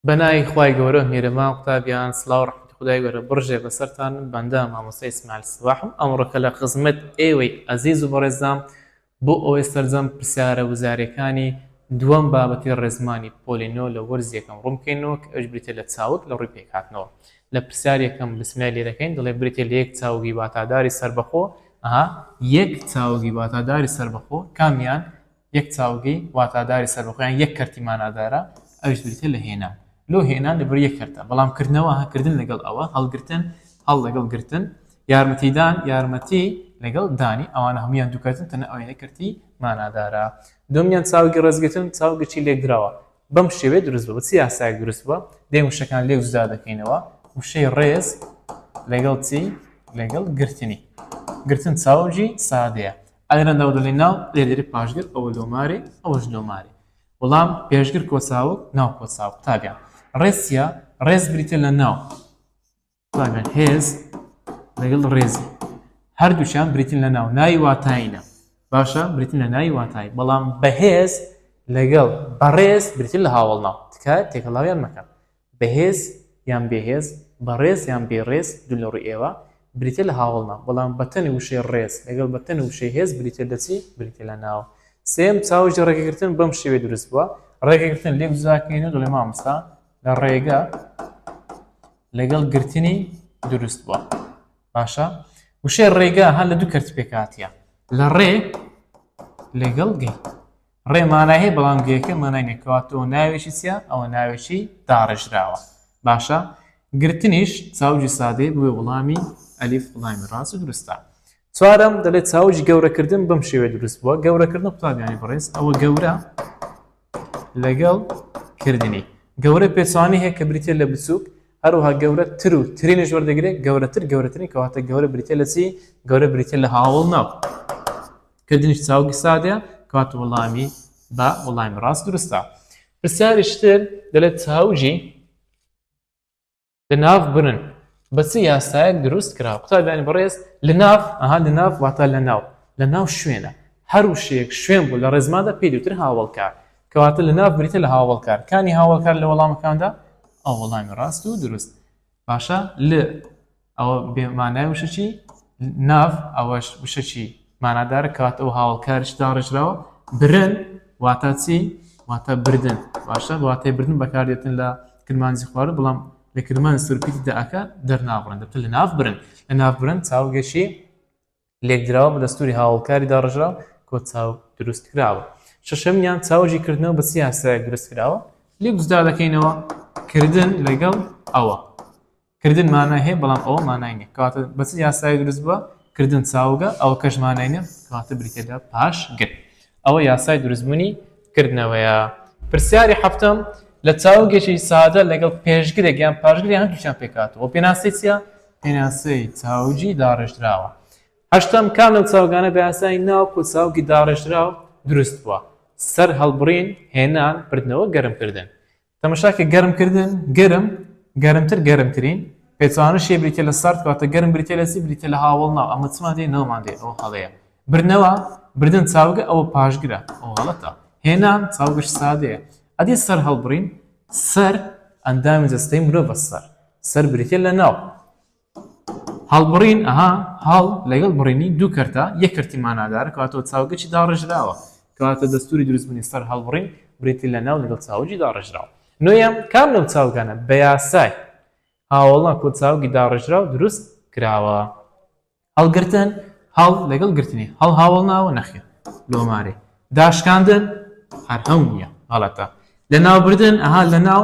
بە ناوی خوای گەورە میرەمام قوتابیان سڵاو ڕەحمەتی خودای گەورە بڕژێ بەسەرتان من بەندە مامۆستا ئیسماعیل سەباحم ئەمڕۆکە لە خزمەت ئێوەی ئەزیز و بەڕێزدام بۆ ئەوەی سەرجەم پرسیارە وزارەکانی دووەم بابەتی ڕێزمانی پۆلی نۆ لە وەرزی یەکەم ڕوون بکەینەوە کە ئەویش بریتیە لە چاوگ لە ڕووی پێکهاتنەوە لە پرسیاری یەکەم بسمیلای لێ دەکەین دەڵێ بریتیە لە یەک چاوگی واتاداری سەربەخۆ ئەها یەک چاوگی واتاداری سەربەخۆ کامیان یەک چاوگی واتاداری سەربەخۆیان یەک کەرتی مانادارە ئەویش بریتیە لە هێنان لۆ هێنان لەبەر یەک کەرتە بەڵام کردنەوە هەکردن لەگەڵ ئەوە هەڵگرتن هەڵ لەگەڵ گرتن یارمەتیدان یارمەتی لەگەڵ دانی ئەوانە هەمویان دووکەتن تەنە ئەوەیە کەرتی مانادارە دومیان چاوگی ڕێزگرتن چاوگەچی لێکدراوە بەم شێوێ دروست بە چی یاسایەک دروست بووە دێ وشەکان لێک جودا دەکەینەوە وشەی ڕێز لەگەڵ چی لەگەڵ گرتنی گرتن چاوجی سادەیە ئەرەن داودەڵی ناو لێدەری پاشگر ئەوە لۆمارێ ئەوەش لۆمارێ وەڵام پێشگر کۆساوە ناو کۆساو قوتابیان ڕێسیە ڕێز بریتە لە ناو قوتابیان هێز لەگەڵ ڕێزی هەردووشیان بریتن لە ناو ناوی واتایینە باشە بریتن لە ناوی واتای بەڵام بەهێز لەگەڵ بەڕێز بریتن لە هاوڵناو تکایە تێکەڵاویان مەکەن بەهێز یان بێهێز، بەڕێز یان بێ ڕێز، دوو لە ڕووی ئێوە، بریتیە لە هاوەڵ ناو، بەڵام بەتەنی وشەی ڕێز لەگەڵ بەتەنی وشەی هێز بریتیە لە چی؟ بریتیە لە ناو. سێیەم، چاوگی ڕێگەگرتن بەم شێوەیە دروست بووە، ڕێگەگرتن لێک جوداکەین و دەڵێین مامۆستا لە ڕێگە لەگەڵ گرتنی دروست بووە. باشە؟ وشەی ڕێگە هەر لە دوو کەرت پێکهاتیە، لە ڕێ لەگەڵ گەی. ڕێ مانای هەیە بەڵام گێکە مانای نیە کەوا تۆ ناوێکی چیە ئەوە ناوێکی داڕێژراوە باشە گرتنیش چاوجی سادەی بوێ وڵامی ئەلیف وڵامی ڕاست و دروستە چوارم دەڵێت چاوجی گەورەکردن بەم شێوێ دروست بووە گەورەکردن قوتابیانی بڕێز ئەوە گەورە لەگەڵ کردنی گەورە پێچوانی هەیە کە بریتە لە بچووک هەروها گەورە تر و ترینش وەردەگرێت گەورەتر گەورەترین کەواتە گەورە بریتە لە چی گەورە بریتە لە هاوڵ ناو کردنیش چاوگی سادەیە کەواتە وەڵامی بە وەڵامی ڕاست دروستە پرسیاریشتر دەلێت چاوگی لە ناو برن بە چ یاسایەک دروست کرا قوتابیانی بەڕێز لە ناف ئەها لە ناف واتە لە ناو لە ناو شوێنە هەر وشەیەک شوێن بوو لە ڕێزمادا پێی دوتر هاوڵکار کەواتە لە ناو بریتە لە هاوڵکارکانی هاوڵکار لە وەڵامەکاندا ئەو وەڵامی ڕاست و دروست باشە ل ئەوە بێ مانای وشە چی ناڤ ئەوەش وشە چی مانادارە کات ئەو هاوڵکارش داڕێژراوە برن واتە چی واتە بردن باشە واتەی بردن بەکاردێتن لە کرمانجی خوارد بڵام لە کرمان سرپیتی دەکە دەرنابڕن دەبتە لە ناف برن لە ناف برن چاوگەشی لێکدراوە بە دەستوری هاوڵکاری داڕژراو کۆ چاو دروست کراوە شەشەمیان چاوجی کردنەوە بە سیاسایەک دروست کراوە لێ جدا دەکەینەوە کردن لەگەڵ ئەوە کردن مانای هەیە بەڵام ئەوە مانای نیە کاتە بەچ یاسای دروست بووە کردن چاوگە ئەو کەش مانای نیە کاتە بریتێدا پاش گەل ئەوە یاسای دروستبوونی کردنەوەیە. پرسیاری حەفتەم، لە چاوگێکی سادە لەگەڵ پێشگرێک یان پاشگر یان هەردووکیان پێکهاتووە، پێناسەی چییە؟ پێناسەی چاوگی داڕێژراوە. هەشتەم، کام لەو چاوگانە بە یاسای ناوەکو چاوگی داڕێژراو دروست بووە؟ سەرهەڵبڕین، هێنان، بردنەوە، گەرمکردن. تەمەشا کە گەرم کردن گەرم گەرمتر گەرمترین پێچوانە شێ بریتە لە سارد کاتە گەرم بریتە لە سی بریتە لە هاوڵ ناو ئەمە چمان دێ نەوەمان دێ ئەو هەڵەیە برنەوە بردن چاوگە ئەوە پاشگرە ئەو هەڵەتە هێنان چاوگەش سادەیە ئەدی سەر هەڵبڕین سەر ئەندامی جەستەی مرۆڤ بەسەر سەر بریتە لە ناو هەڵبڕین، ئەها، هەڵ لەگەڵ بڕینی دوو کەرتە، یەک کەرتی مانادارە، کەواتەوە چاوگەچی داڕێژراوە، کەواتە دەستووری دروستبوونی سەر هەڵبڕین بریتییە لە ناو لەگەڵ چاوگی داڕێژراو. نۆیەم، کام لەو چاوگانە بە یاسای هاوەڵان کۆ چاوگی داڕێژراو دروست کراوە؟ هەڵگرتن، هەڵ لەگەڵ گرتنی، هەڵ هاوەڵ ناوە؟ نەخێر، لۆمارەی. داشکاندن، هەر هەو نییە، غەڵەتە. لەناوبردن، ئەها، لەناو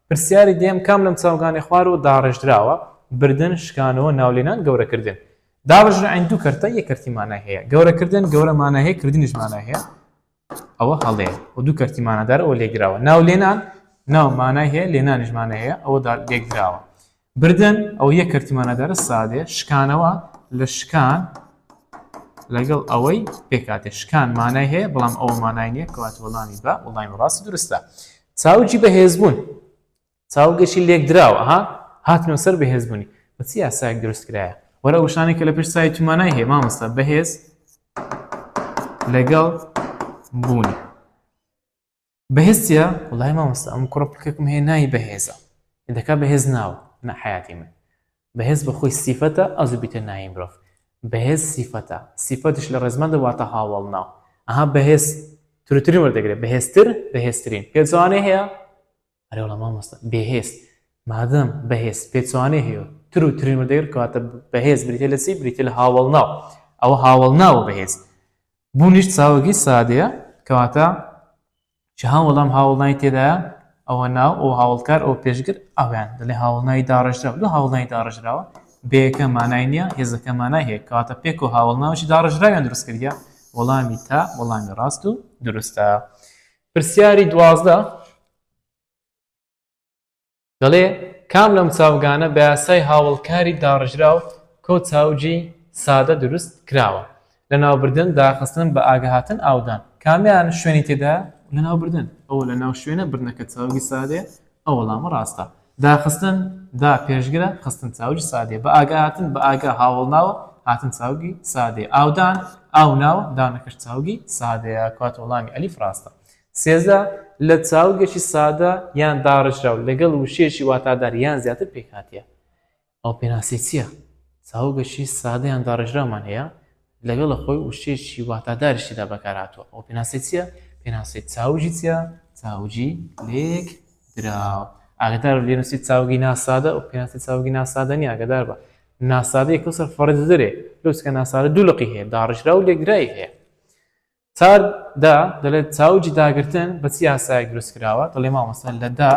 پرسیاری دەیەم کام لەم چاوگانەی خوارەوە داڕێژراوە، بردن، شکانەوە، ناولێنان، گەورەکردن. داڕژرعن دوو کەرتە یەک کەرتی مانای هەیە گەورە کردن گەورە مانای هەیە کردنیش مانای هەیە ئەوە هەڵەیە و دوو کەرتی مانادار ئەوە لێکدراوە ناو لێنان ناو مانای هەیە لێنانیش مانای هەیە ئەوە لێکدراوە بردن ئەو یە کەرتمانە دەرە سادێ شکانەوە لە شکان لەگەڵ ئەوەی پێکاتێ شکان مانای هەیە بەڵام ئەو مانای نیە کەوات وەڵامی بە وڵاین ڕاستی درستە چاوجی بەهێزبوون چاوگەشی لێکدراوە ها هاتنەوە سەر بەهێزبوونی بە چی یاسایەک دروست کرایە وەرە وشانی کە لە پێش سای تومانای هەیە مامۆستا بەهێز لەگەڵ بوونی بەهێز چیە وڵای مامۆستا ئەم کوڕە پکەکم هەیە ناوی بەهێزە دەکا بەهێز ناوە نە حیاتی من بەهێز بە خۆی سیفەتە ئەز بیتە ناوی مرۆڤ بەهێز سیفەتە سیفەتش لە ڕێزمان دەواتە هاوڵ ناو ئەها بەهێز ترترین وەردەگرێت بەهێزتر بەهێزترین پێزانێ هەیە ئەرێ وەڵا مامۆستا بێهێز مادەم بەهێز پێچوانەی هەیە تر و ترین وەدەگر کەواتە بەهێز بریتە لە چی بریتە لە هاوڵ ناو ئەوە هاوڵ ناوە بەهێز بوونیش چاوەگی سادەیە کەواتە چ هاو وەڵام هاوڵنای تێدایە ئەوە ناو ئەو هاوڵکار ئەو پێشگر ئەویان دەڵێ هاوڵنای داڕژرا دو هاوڵنای داڕژراوە بەیەکە مانای نییە هێزەکە مانای هەیە کاتە پێک و هاوڵناوشی داڕژراویان دروستکردە وەڵامی تا وەڵامی ڕاست و دروستە پرسیاری دوازدە دەڵێ کام لەم چاوگانە بە یاسای هاوڵکاری داڕژراو کۆ چاوگی سادە دروست کراوە؟ لەناوبردن، داخستن، بەئاگههاتن، ئاودان. کامیان شوێنی تێدایە؟ لەناوبردن، ئەوە لەناو شوێنە بردنەکە چاوگی سادەیە، ئەو وەڵامە ڕاستە. داخستن، دا، پێشگرە، خستن، چاوگی سادەیە، بە ئاگا هاتن، بە ئاگا، هاوەڵ ناوە، هاتن، چاوگی سادەیە، ئاودان، ئاو ناوە، دانەکەش چاوگی سادەیە، کەواتە وەڵامی ئەلیف ڕاستە. سێزدە، لە چاوگێکی سادە یان داڕێژراو لەگەڵ وشەیەکی واتادار یان زیاتر پێکهاتیە. ئەو پێناسەی چیە؟ چاوگەشی سادە یان داڕێژراومان هەیە لەگەڵە خۆی وشەیەکی واتاداریش تێدا بەکار هاتووە ئەو پێناسەی چیە؟ پێناسەی چاوگی چیە؟ چاوگی لێک دراو ئاگدار بە لێنووسی چاوگی ناسادە و پێناسی چاوگی ناسادە نیە ئاگدار بە ناسادەیەکە سەر فەڕزدرێ لوسکە ناسادە دوو لقی هەیە داڕژرا و لێکدرای هەیە تار دا دەڵێت چاوجی داگرتن بە چ یاسایەک دروست کراوە دەڵێ مامەستا لە دا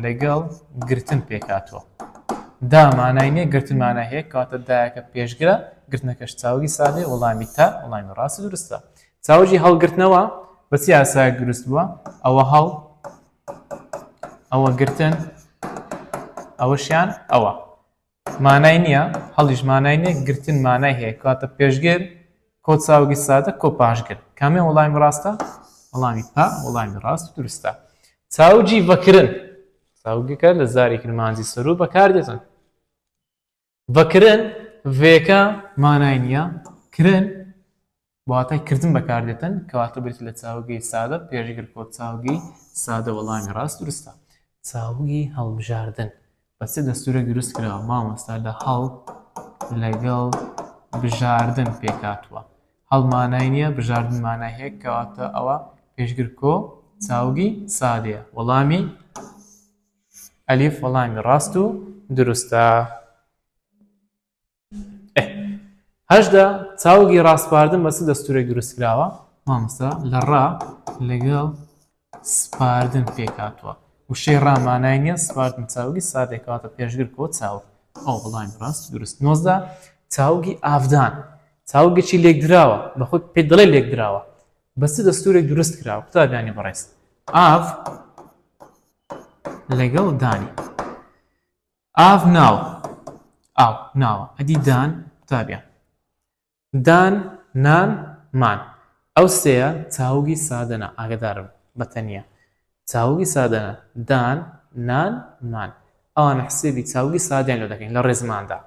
لەگەڵ گرتن پێکاتوە دا مانای نیە گرتن مانای هەیە کاتە دایەکە پێشگرە گرتنەکەش چاوی سادێ وڵامی تا وڵامی ڕاستی دروستە چاوجی هەڵگرتنەوە بە چ یاسایەک دروست بووە ئەوە هەڵ ئەوە گرتن ئەوەشیان ئەوە مانای نییە، هەڵیش مانای نییە، گرتن مانای هەیە، کەواتە پێشگر، کۆچاوگی سادە، کۆ پاشگر. کامیان وەڵامی ڕاستە؟ وەڵامی پا وەڵامی ڕاست و دروستە. چاوگی ڤەکرن، چاوگەکە لە زاری کرمانجی سەروو بەکار دێتن. ڤەکرن، ڤێکە مانای نییە، کرن بە واتای کردن بەکاردێتن کەواتە بریتە لە چاوگی سادە پێشگر کۆت چاوگی سادە وەڵامی ڕاست دروستە چاوگی هەڵبژاردن بەسێ دەستورە دروست کراوە مامۆستا لە هەڵ لەگەڵ بژاردن پێکاتوە هەڵمانای نییە بژاردن مانای هەیە کەواتە ئەوە پێشگر کۆ چاوگی سادەیە وەڵامی ئەلیف وەڵامی ڕاست و دروستە هەشدا چاوگی ڕاسپاردن بە چ دەستورێک دروست کراوە مامۆستا لە ڕا لەگەڵ سپاردن پێکاتوە وشەی ڕامانای نیە سپاردن چاوگی سادێکاتە پێشگر کۆ چاو ئەو بڵان ڕاست دروست نۆزدا چاوگی ئافدان چاوگەچی لێکدراوە بە خۆی پێ دڵێ لێکدراوە بەس دەستورێک دروست کراوە قوتابیانی بەڕێز ئاف لەگەڵ دانی ئاڤ ناوە ئاو ناوە ئەدی دان قوتابیان دان نان مان ئەو سێیە چاوگی سادەنە ئاگدارم بە تەنیا چاوگی سادەنە دان نان مان ئەوانە حسێبی چاوگی سادەیان لۆ دەکەین لە ڕێزماندا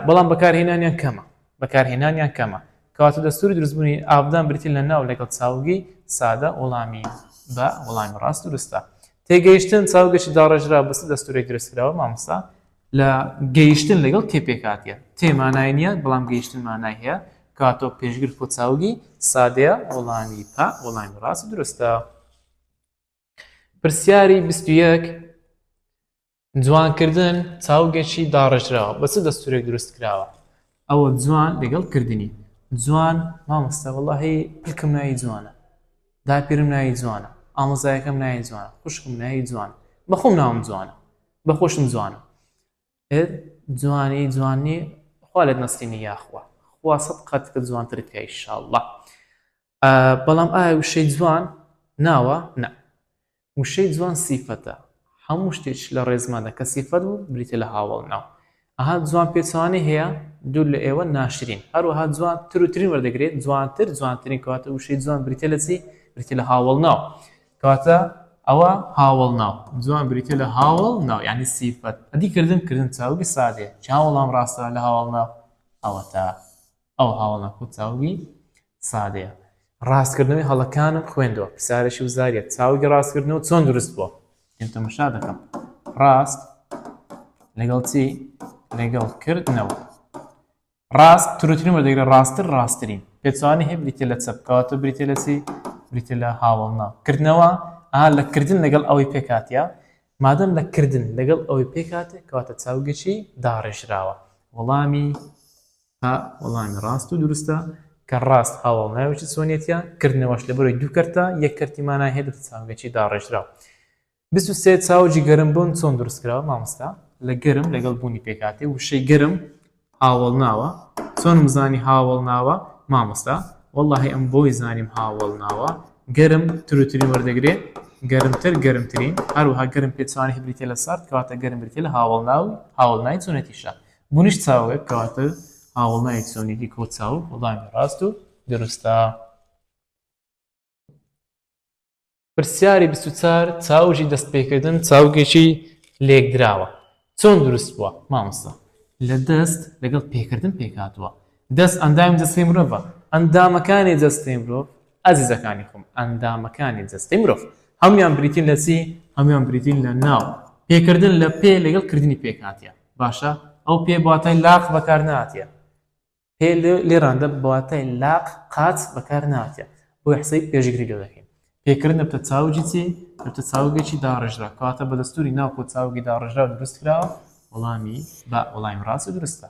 بەڵام بەکارهێنانیان کەمە بەکارهێنانیان کەمە کەواتە دەستوری دروستبوونی ئابدان بریتی لە ناو لەگەڵ چاوگی سادە وەڵامی بە وەڵامی ڕاست دروستە تێگەیشتن چاوگەشی داڕێژرا بەس دەستورێک درستکراوە مامۆستا لە گەیشتن لەگەڵ تێ پێکاتە تێمانای نییە بەڵام گەیشتن مانای هەیە کاتۆ پێشگر کۆچاوگی سادەیە وەڵامی پا وەڵامی ڕاست درستە پرسیاری 21 جوانکردن چاوگێکی داڕێژراوە بە چ دەستورێک دروست کراوە ئەوە جوان لەگەڵ کردنی جوان مامۆستا وەڵاهی پلکم ناوی جوانە داپیرم ناوی جوانە ئامۆزایەکەم ناوی جوانە خوشکم ناوی جوان بەخۆم ناوم جوانە بەخۆشم جوانە جوانی جوانی خوا لێت نەستینی یاخوا خوا سەد قەت کە جوانترت کە ئیشاءاللە بەڵام ئایا وشەی جوان ناوە؟ نا. وشەی جوان سیفەتە. هەموو شتێک لە ڕێزماندا کە سیفەت بوو بریتە لە هاوەڵ ناو. ئەها جوان پێچەوانەی هەیە، دوور لە ئێوە ناشرین. هەروەها جوان تر و ترین وەردەگرێت، جوانتر، جوانترین. کەواتە وشەی جوان بریتە لە چی؟ بریتە لە هاوەڵ ناو. کەواتە ئەوە هاوەڵ ناو. جوان بریتە لە هاوەڵ ناو، یعنی سیفەت. ئەدی کردن؟ کردن چاوگی سادەیە. چ هاوەڵام ڕاستە لە هاوەڵ ناو؟ ئەوەتا. ئەو هەاڵە خۆ چاوگی سادەیە. ڕاستکردنەوەی هەڵەکانم خوێندەوە پرسیارێکی وزاریە چاوگی ڕاستکردنەوە چۆن دروست بووە من تەمەشا دەکەم ڕاست لەگەڵ چی لەگەڵ کردنەوە ڕاست ترترین وەدەگرە ڕاستتر ڕاستترین پێچوانی هەیە بریتە لە چەپکاتە بریتە لە چی بریتە لە هاوڵنا کردنەوە ئا لە کردن لەگەڵ ئەوەی پێکاتە مادەم لە کردن لەگەڵ ئەوەی پێکاتێ کەواتە چاوگەچی داڕێژراوە وەڵامی ها، وەڵامی ڕاست و دروستە، کە ڕاست هاوەڵ ناوی چ چۆنیەتیە، کردنەوەش لە بەرۆی دوو کەرتە، یەک کەرتی مانای هەیە دوو چاوگەچی داڕێژراو. بیست و سێ، چاوگی گەرم بوون چۆن دروست کراوە مامۆستا؟ لە گەرم لەگەڵ بوونی پێکهاتەی وشەی گەرم هاوەڵناوە، چۆنم زانی هاوەڵناوە مامۆستا؟ وەڵاهی ئەم بۆی زانیم هاوەڵناوە، گەرم تروترین وەردەگرێ، گەرمتر گەرمترین، هەروەها گەرم پێچەوانەی بریتیە لە سارد، کەواتە گەرم بریتیە لە هاوەڵناو، هاوەڵنای چۆنێتیشە، بونیش چاوێک کەواتە هاوڵنایەک سۆنیدی کۆ چاو وڵامی ڕاست و دروستە پرسیاری بسوچار چاوژی دەست پێکردن چاوگێکی لێکدراوە چۆن دروست بووە مامۆستا لە دەست لەگەڵ پێکردن پێکاتوە دەست ئەندامی دەستی مرۆڤە ئەندامەکانی دەستی مرۆڤ ئازیزەکانی خۆم، ئەندامەکانی جەستەی مرۆڤ هەموویان بریتین لە چی؟ هەموویان بریتین لە ناو. پێکردن لە پێ لەگەڵ کردنی پێکهاتە. باشە ئەو پێ بە واتای لاق بەکار نهاتیە. پێ لێراندا بە واتای لاق، قاچ بەکار نهاتیە. بۆیە حسابی پێشگری لێ دەکەین. پێکردن لە بتە چاوگی چی؟ لە بتە چاوگێکی داڕێژراو. کەواتە بە دەستووری ناوکۆ چاوگی داڕێژراو دروست کراوە؟ وەڵامی، با، وەڵامی ڕاست و دروستە.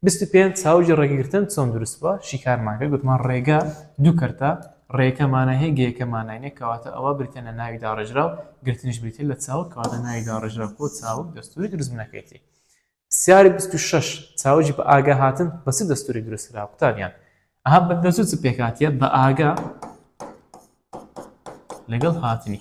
بیست و پێنج، چاوگی ڕێگەگرتن چۆن دروست بووە؟ شیکارمان کرد گوتمان ڕێگە دوو کەرتە، ڕێیەکە مانای هەیە گێیەکە مانای نییە، کەواتە ئەوە بریتییە لە ناوی داڕێژراو، گرتنیش بریتییە لە چاوگ، کەواتە ناوی داڕێژراو بۆ چاوگ دەستووری دروستبوونەکەیەتی. سیاری بیست و شەش، چاوگی بەئاگا هاتن بە چ دەستوورێک دروست کراوە؟ قوتابیان ئەها بە دەستوور چ پێکهاتییە؟ بەئاگا لەگەڵ هاتنی.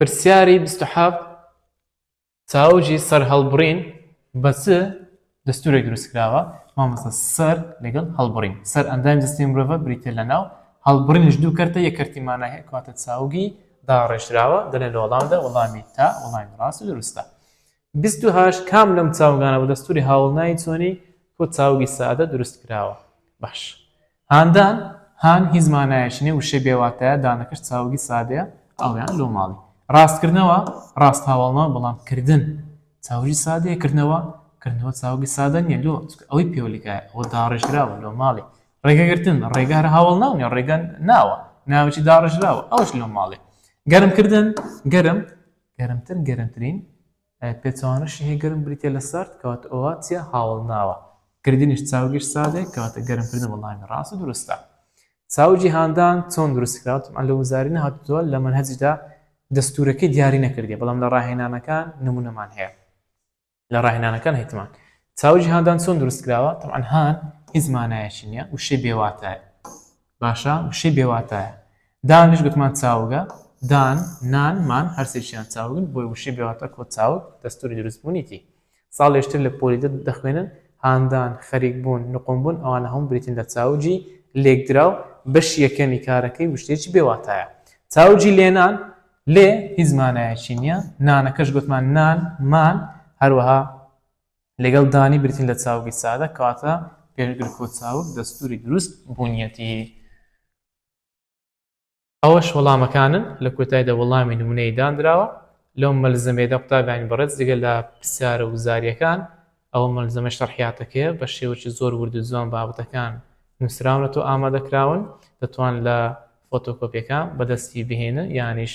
پرسیاری بیست و حەفت، ساوجی سەرهەڵبڕین بە چ دەستوورێک دروستکراوە؟ مامۆستا سەر لەگەڵ هەڵبڕین سەر ئەندامی جەستەی مرۆڤە بریتییە لە ناو، هەڵبڕینیش دوو کەرتە یەک کەرتی مانای هەیە کەواتە چاوگی داڕێژراوە، دەلێن لە وەڵامدا وەڵامی تا وەڵامی ڕاست و دروستە. بیست و هەشت، کام لەم چاوگانە بە دەستووری هاوڵناوی چۆنی کۆد چاوگی سادە دروستکراوە؟ باش. هاندان، هان هیچ مانایەکی نیە، وشەی بێ واتایە، دانەکەش چاوگی سادەیە، ئاویان لۆ ماڵی. ڕاستکردنەوە، ڕاست هاوەڵنەوە، بەڵام کردن چاوگی سادەیە، کردنەوە، کردنەوە چاوگی سادە نیە، لۆ؟ چونکە ئەوەی پێولگایە، ئەوە داڕێژراوە، لۆ ماڵی. ڕێگەگرتن، ڕێگە هەر هاوەڵناو نیە، ڕێگە ناوە، ناوێکی داڕێژراوە، ئەوەش لۆ ماڵی. گەرمکردن، گەرم، گەرمتر، گەرمترین. پێچەوانە شیهێ گەرم بریتیە لە سارد کەواتە ئەوە چیە هاوەڵ ناوە کردنیش چاوگیش سادەیە کەواتە گەرم کردن وەڵامی ڕاست و دروستە چاو جیهاندان چۆن دروست کرات ئەلە وزاری نهاتوە لە منهجدا دەستورەکەی دیاری نەکردی بەڵام لە ڕاهێنانەکان نمونەمان هەیە لە ڕاهێنانەکان هیتمان چاو جیهاندان چۆن دروست کراوە طبعا هان هیچ مانایەکی نییە وشەی بێواتە باشە وشەی بێ واتایە. دانیش گوتمان چاوگە، دان، نان، مان هەرسێکیان چاوگن بۆیە وشەی بێ واتا کۆ چاوگ دەستوری دروست بونیتی ساڵێشتر لە پۆلی دە دەخوێنن هاندان، خەریک بوون، نقوم بوون ئەوانە هەموو بریتین لە چاوگی لێکدراو بەشی یەکەمی کارەکەی وشەیەکی بێ واتایە. چاوگی لێنان، لێ هیچ مانایەکی نیە، نانەکەش گوتمان نان، مان هەروەها لەگەڵ دانی بریتین لە چاوگی سادە کەواتە پێش گرفۆ چاوگ دەستوری دروست بوونیەتی ئەوەش وەڵامەکانن لە کۆتایدا وەڵامی نمونەی دانراوە لەو مەلزەمێدا قوتابیانی بەڕێز جگە لە پرسیارە وزاریەکان ئەوە مەلزەمە شەرحیاتەکەیە بە شێوەی زۆر وردو جوان بابەتەکان نووسراونەتەوە ئامادەکراون دەتوان لە فۆتۆکۆپیەکان بەدەستی بهێنن یانیش